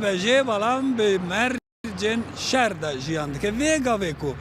Nebe jê belam bi mercên şer de jiyan dike. Vê gavê ku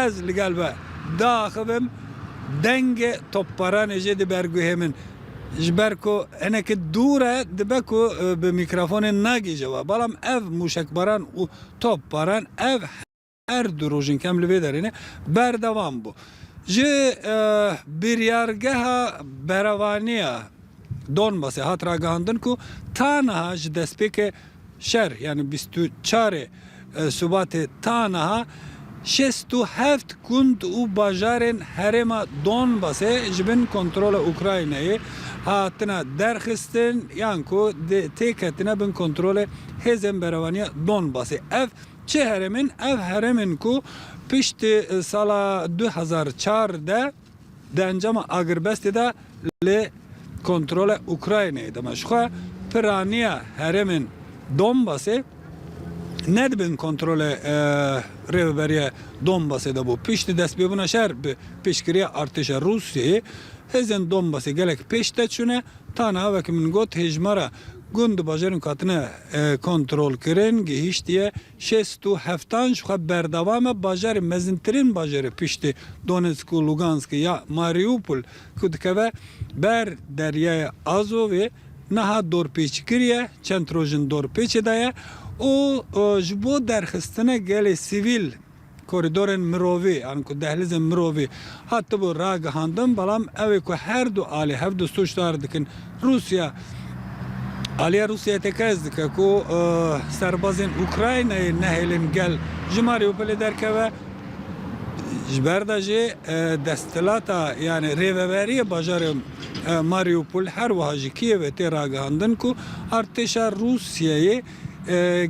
ez li gel we diaxivim dengê topbaranê jê diberguhê min. Ji ber ku hinekî dûr e dibe ku bi mîkrafonê negihije we. Belam ev mûşekbaran û topbaran ev Her du rojên kem li vê derê ne berdewam bû. Ji biryargeha berevanê ya Donbasê hat ragihandin ku taniha ji destpêkê şer yanî bîst û çar ê Subatê taniha şêst û heft gund û bajarên herêma Donbasê ji bin kontrola Ukraynayê hatine derxistin yan ku tê ketine bin kontrolê hêzên berevaniya Donbasê. Ev. Çi herem in? Ev herem in ku piştî sala du hezar û çar de di encama agirbestê de li kontrola Ukraynayê de me. Jixwe piraniya heremên Donbasê ne di bin kontrola Rêveberiya Donbasê de bû. Piştî destpêbûna şer bi piştgiriya artêşa Rûsyayê, hêzên Donbasê gelek pêş te çûne. Ta niha wekî min got hêjmara gund di bajarên ku hatine kontrolkirin gihîştiye şêst û heftan ji xwe berdewam e. Bajarê mezintirîn bajarê piştî Donetsk û Luganskê ya Mariupol ku dikeve ber deryaya Azovê niha dorpêçkiriye, çend roj in dorpêçê de ye û ji bo derxistine gelê sivîl, Korîdorên mirovî an ku dehlîzên mirovî hatibû ragihandin, belam ew ê ku her du alî hev du sûcdar dikin. Rûsya, Aliya Rûsyayê tekez dike ku serbazên Ukraynayê nehêlin gel ji Marîupolê derkeve, ji ber de jî desthilata yanî rêveberiyê bajarê Marîupol her wiha ji Kîevê tê ragihandin ku artêşa Rûsyayê,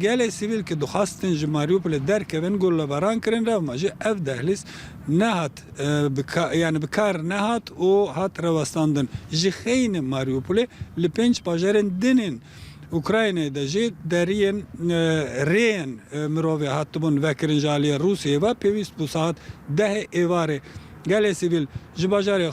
Gelê sivîl ku dixwastin ji Mariupolê derkevin gollebaran kirin revma jî ev dehlîz nehat yanî bi kar nehat û hat rewestandin. Ji xeynî Mariupolê li pênc bajarên din ên Ukraynayê de jî deriyên rêyên mirovê hatibûn vekirin ji aliyê Rûsyayê ve pêwîst bû saet dehê êvarê gelê sivîl ji bajarê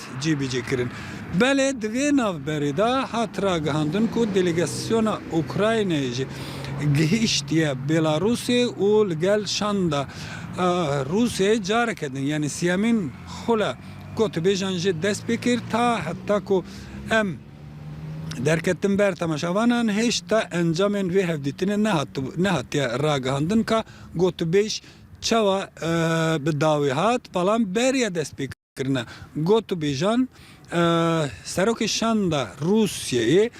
cîbîcî kirin. Belê di vê navberê de hat ragihandin ku delegasyona Ukraynayê jî gihîştiye Bêlarûsê û li gel şanda Rûsyayê careke din yanî siyemîn xula gotûbêjan jê dest pê kir ta heta ku em derketin ber temaşavanan hêşta encamên vê hevdîtinê nehatiye ragihandin ka gotûbêj çawa bi dawî hat, belam beriya dest pê kirin. kirine. Gotûbêjan Serokê Şanda Rûsyayê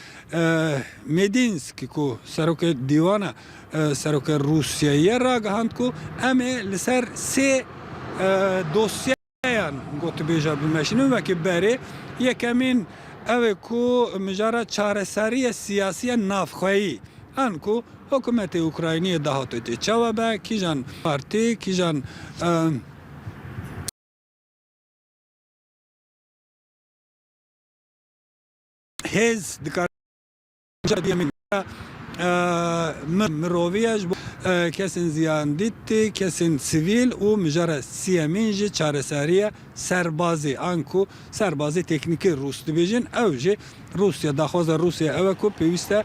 Mêdînsk ku Serokê Dîwana Serokê Rûsyayê ye ragihand ku em ê li ser sê dosyeyan gotûbêja bimeşînin wekî berê. Yekemîn ew e ku mijara çareseriyê siyasiya navxweyî an ku hikûmetê Ukrayniyê dahate tê çawa be, kîjan partî, kîjan. hêz dikar miroviyej kesên ziyandîtî kesên sivîl û mijara siyemîn jî çareseriye serbazî an ku serbazî teknîkî rûs dibêjin ew jî Rûsya daxwaza Rûsya ew e ku pêwîste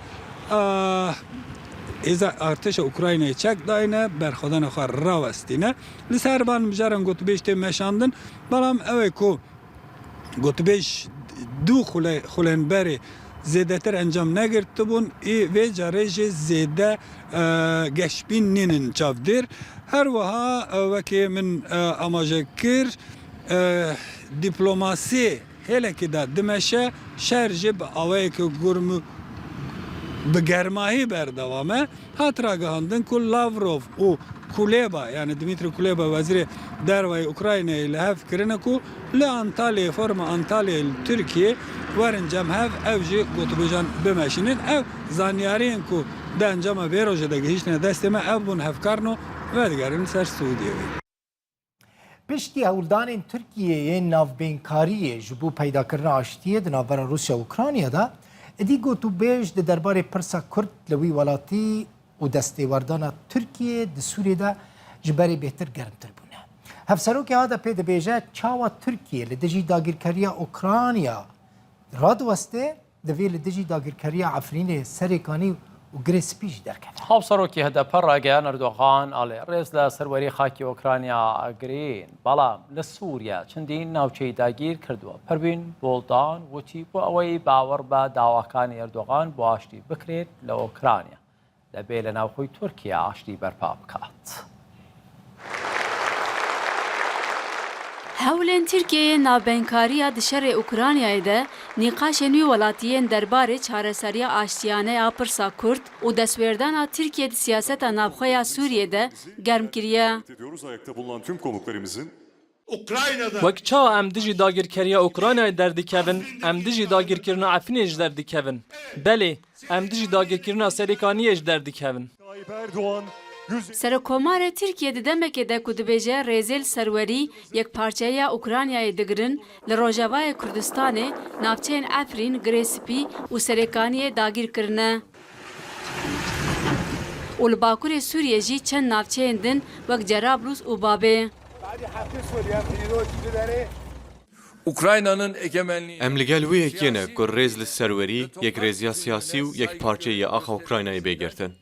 hêza artêşa Ukraynayê çek dayne berxwedana xwe rawestîne. Li ser van mijaran gotûbêj tê meşandin, belam ew e ku gotûbêj du xulên berê zêdetir encam negirtibûn ê vê carê jî zêde geşbîn nînin çavdêr. Her wiha wekî min amaje kir, dîplomasê, Hêlekê de dimeşe, şer jî bi awayeke gurm û bi germahî berdewam e. Hat ragihandin ku Lavrov û Kuleba yanî Dmîtri Kuleba Wezîrê Derveyê Ukraynayê li hev kirine ku li Antalyayê Foruma Antalyayê li Tirkiyeyê werin cem hev ew jî gotûbêjan bimeşînin. Ev zanyariyên ku di encama vê rojê de gihîştine destê me ev bûn hevkarn û vedigerin ser Swîdiyeyê. Piştî hewldanên Tirkiyê yên navbênkariyê ji bo peydakirina aştiyê di navbera Rûsya û Ukraynayê de, êdî gotûbêj di derbarê pirsa Kurd li wî welatî û destêwerdana Tirkiyê di Sûriyê de ji berê bêhtir germtir bûne. Hevserokê HDP'ê dibêje çawa Tirkiye li dijî dagîrkeriya Ukrayna radiweste, Divê li dijî dagîrkeriya Efrînê serê kanî û girê spî jî derkeve. Hevserokê hdp Rageyan Erdogan a lê rêz li serwerî xakê Ûkranya girîn, belam li Sûriye çindîn navçeyî dagîr kiriduwe. Perwîn Buldan wutî, bo eweyî bawer be dawakanê Erdogan bo aştî bikrên li Ûkranya, Debe li navxwe Tirkiye aştî berpa bikat. Hewlên Tirkiyeyê navbenkariya di şerê Ukraynayê de nîqaşên wî welatiyên derbarê çareseriya aştiyane ya pirsa Kurd û destwerdana Tirkiyê di siyaseta navxwe ya Sûriyê de germ kiriye. Wek çawa em dijî dagirkeriya Ukraynayê derdikevin, em dijî dagirkirina Efrînê ji derdikevin. Belê, em dijî dagirkirina Serêkaniyê ji derdikevin. Serokomarê Tirkiyê di demekê de ku dibêje rêzêl serwerî yekparçeyiya Ukraynayê digirin, li rojavayê Kurdistanê navçeyên Efrîn, Girê Spî û Serêkaniyê dagîr kirine. û li bakurê Sûriyê jî çend navçeyên din wek Cerablûs û Babê. Em li gel wê yekê ne ku rêz li serwerî, yekrêziya siyasî û yekparçeyî ya axa Ukraynayê bê girtin.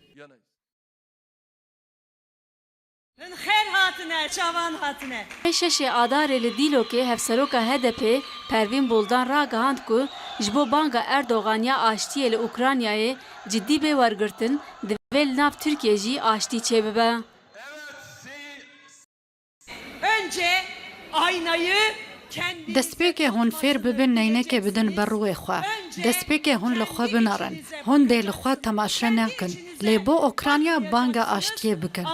Min xêr hatine, çavan hatine. Dê şeşê Adarê li Dîlokê Hevseroka HDP'ê Pervîn Buldan ragihand ku ji bo banga Erdogan ya aştiyê li Ukraynayê cidî bê wergirtin, divê li nav Tirkiyê jî aştî çêbibe. Destpêkê hûn fêr bibin neynekê bidin ber rûyê xwe. Destpêkê hûn li xwe bimerin. Hûn dê li xwe temaşe nekin. Lê bo Ûkranya banga aştiyê bikin.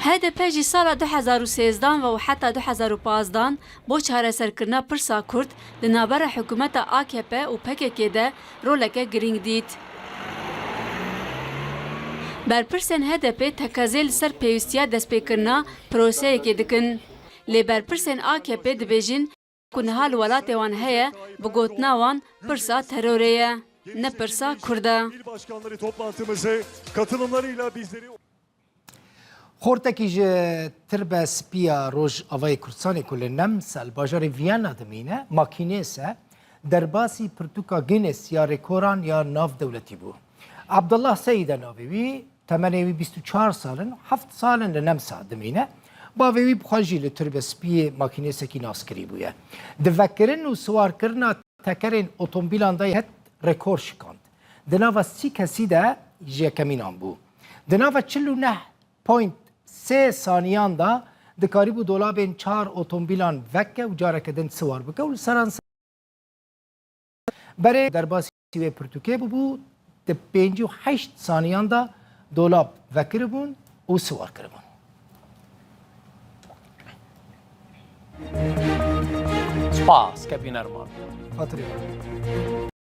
Hdp jî sala du hezar û sêzdan ve û heta du hezar û pazdan Bo çareserkirina pirsa kurd di navbera hikûmeta akp û pkk de roleke girîng dît. Berpirsên HDP'ê teqezê li ser pêwîstiya destpêkirina proseyekê dikin. Lê berpirsên akp'ê dibêjin ku niha li welatê wan heye, bi gotina wan pirsa terorê ye, ne pirsa kurd e. Xortekî ji tirbe spiya roj avayê Kurdistanê ku li Nemsel bajarê Viyana dimîne makînês e, derbasî pirtûka Guinness ya rêkoran ya nav dewletî bû. Abdullah Seyîd e navê wî, temenê wî bîst û çar sal in, heft sal in li Nemsa dimîne. Bavê wî bi xwe jî li tirbe spiyê makînêsekî nas kirî bûye. Di vekirin û siwarkirina tekerên otomobîlan de yê het rekor şikand. di nava sî kesî de ji yekemînan bû. Di nava çil û neh point sê saniyan de dikarîbû dolabên çar otomobîlan veke û careke din siwar bike û li seranser berê derbasî wê pirtûkê bûbû, di pêncî û heşt saniyan de dolab vekiribûn û siwar kiribûn. Spas, kevî nerman. Xatirê xwe.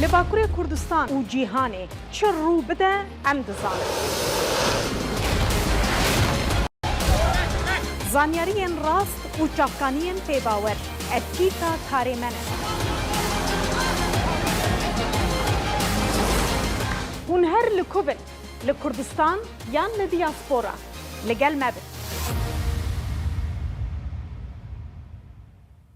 Li Bakurê Kurdistan û cîhanê çi rû bide em dizanin. Zanyariyên rast û çavkaniyên pêbawer ev tîka karê me ne. Hûn her li ku bin, li Kurdistan yan li diaspora, li gel me bin.